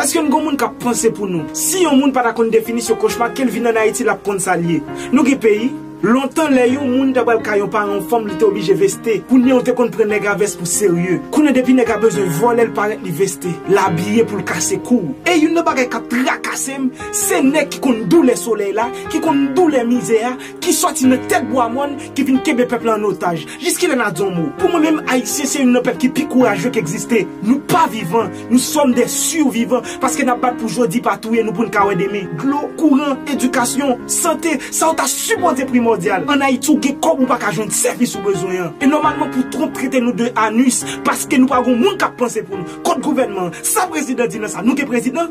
Eske n gon moun kap panse pou nou? Si yon moun pa ta konn definisyon kochma kel vin an Ayiti lap konn sal ye. Nou gen peyi? Lontan lè yon moun ta pral kay yon paran fanm li te oblije veste, kounye yo te konn pran nèg a vès pou serye. Kounye depi nèg a bezwen vòlèl parèt li veste, l abiye poul kase kou. E youn nan bagay kap trakasem se nèg ki konn doulè solèy la, ki konn doulè mizè a, ki sòti nan tèt bwa mòn ki vin kenbe pèp la an otaj, jiskilè n'a di yon mo? Pou mwen menm ayisyen se youn nan pèp ki pi kourajeux ki egziste, nou pa vivan, nou sòm dè survivan paske n'a bat pou jodi pa touye nou poun ka wè demen, dlo, kouran, edikasyon, sante, sa yo ta sipòze primòdyal, an ayiti ou gen kòb ou pa ka jwenn sèvis ou bezwen an, e nòmalman pou Trump trete nou de anus paske nou pa gon moun k'ap panse pou nou, kot gouvènman an, sa prezidan di nan sa, nou gen prezidan?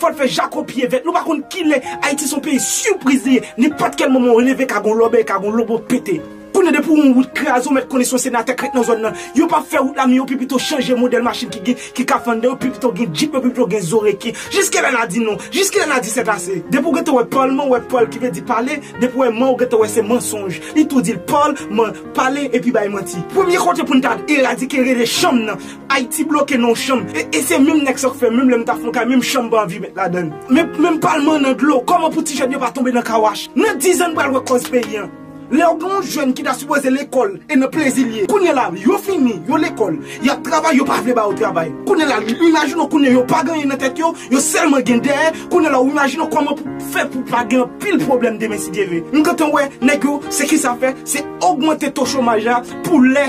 Fòl fè jako pye vèt nou pa konn kilè ayiti son peyi sipriz li ye nenpòt kèl moman ou leve ka gon lòbèy ka gon lobo pete kounye depi yon wout kraze ou mèt konnen son senatè k ret nan zòn nan yo pap fè wout la mi yo pi pito chanje modèl machin ki gen ki ka fanndan yo pi pito gen djip yo pi pito gen zo reken jiskilè na di non jiskilè na di sèt ase depi ou gentan wè palman ou wè pal ki vle di pale depi ou wè man ou gentan wè se mansonj li tou dil pal man pale epi bay manti premye kote poun ta eradike rele chanm nan Ayiti bloke nan yon chanm e se menm nèg sa k fè menm lè m ta fè yon kay menm chanm pa anvi met ladann menm palman nan dlo kòman pou ti jèn yo pa tonbe nan kawach nan 10 an n pral wè kòz peyi an lèw gen yon jèn ki ta sipoze lekòl e nan plezi l ye kounye la yo fini yo lekòl yap travay yo pa vle ba yo travay kounye la imajine w kounye yo pa gen anyen nan tèt yo yo sèlman gen dèyè kounye la ou imajine w kòman pou fè pou pa gen anpil pwoblèm demen si Dye vle m gentan wè nèg yo se kisa fè se ogmante to chomaj la pou lè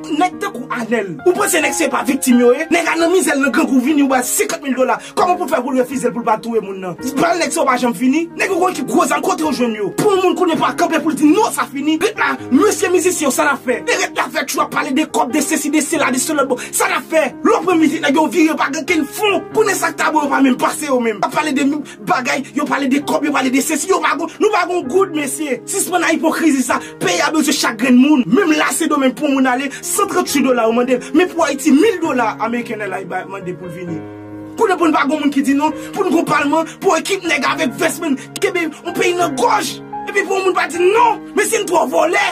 Nèg tankou Anel, ou panse nèg se pa viktim yo ye? Nèg a nan mizè l nan grangou vini ou ba l 50 mil dola, kòman pou l fè pou l refize l pou l pa al touye moun nan? Bal nèg sa yo pa janm fini, nèg yo konn ki gwo zam kote yo jwenn yo? Pou yon moun kounye pa kanpe pou l di non sa fini, ret la, mesye mizisyen yo sa nap fè? E ret la fè tjou ap pale de kòb de sesi de sela de selòt bon sa nap fè? Lè w pran mizik nèg yo vire yo pa gen kenn fon, kounye sak ta bon yo pa menm pase yo menm, ap pale de Bagay, yo pale de kob, yo pale de sesi, yo pa gon, nou pa gon goud mesye, sispann a ipokrizi sa, peyi a bezwen chak grenn moun, menm la sendomeng pou moun ale, 138 dola yo mandel, men pou ayiti 1000 dola ameriken lè la yo bay mande poul vini, kounye pou nou pa gon moun ki di non, pou nou gon palman, pou ekip nèg avèk vès menm, kenbe yon peyi nan gòj, epi pou yon moun pa di non, mesye nou twò vòlè.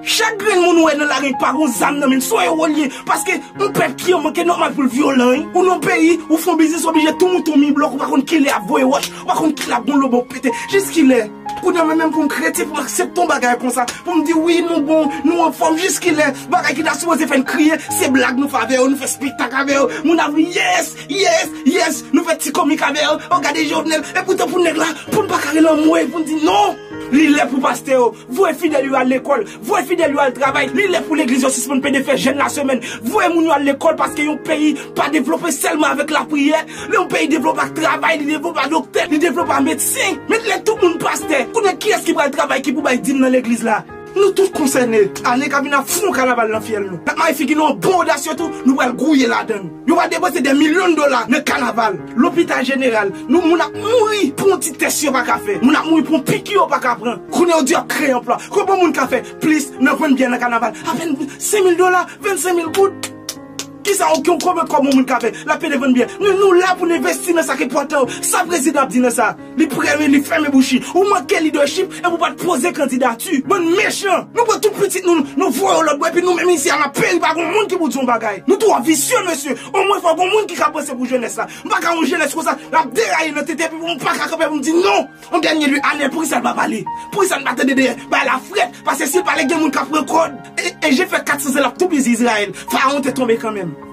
Chak grenn moun ou wè nan lari pa gon zam nan menm, son ewo li ye, paske yon pèp ki an manke nòmal pou l vyolan wi, ou nan yon peyi, ou fè yon biznis oblije tou mouton mi blòk ou pa konn kilè yap voye wòch, ou pa konn kilè ap gon lobo pou pete, jiskilè? Kounya mwen menm pou m kretyen pou m aksepte yon bagay konsa, pou m di wi nou bon, nou anfòm, jiskilè? Bagay ki ta sipoze fè n kriye, se blag nou fè avè yo, nou fè spektak avè yo, moun ap ri yes, yes, yes, nou fè ti komik avè yo, oh gade Jovenel, epoutan pou nèg la, pou n pa kare l anmwey, pou n di non! Li lè pou pastè yo, Voye fidèl yo al lekòl, voye fidèl yo al travay, li lè pou legliz yo sispann pede fè jèn lasemèn, voye moun yo al lekòl paske yon peyi pa devlope sèlman avèk lapriyè, lè yon peyi devlope ak travay, li devlope a doktè, li devlope a medsen, men lè tout moun pastè, kounye kiyès ki pral travay ki pou bay dim nan legliz la? Nou tout konsène, ane kap vini ap foun kanaval nan fyèl nou, nap mare figi nou an bon odasye tou, nou pral gouye ladann. Yo va depanse dè milyon dola nan kanaval, lopital jeneral, nou moun ap mouri pou yon ti tès yo pa ka fè, moun ap mouri pou yon piki yo pa ka pran. Kounye yo di yo ap kreye anplwa. Konbyen moun ka fè plis nan vann byè nan kanaval? Apèn 5 mil dola, 25 mil goud. Kisa yon konbyen kòb yon moun ka fè? Lap pede vann byè. Men nou la pou n envesti nan sa k enpòtan yo. Sa prezidan ap di nan sa? Li premye li fèmen bouch li. Ou manke leadership epi ou pat poze kandidati. Bann mechan. Nou pran tout pitit nou nou voye yo lòtbò epi nou menm isi a nap peri pa gon moun ki pou di yon bagay. Nou twò visye mesye. Omwen fò gon moun ki ka panse pou jenès la. M paka yon jenès konsa lap deraye nan tete epi pou m paka kanpe pou m di non. Yon dènye lye Anel poukisa l pa pale? Poukisa n pa tande dèyè bay la frèt pase si l pale gen moun kap pran kòd e je fè 400 zan lap toupizi Izrayèl. Farawon te tonbe kanmenm.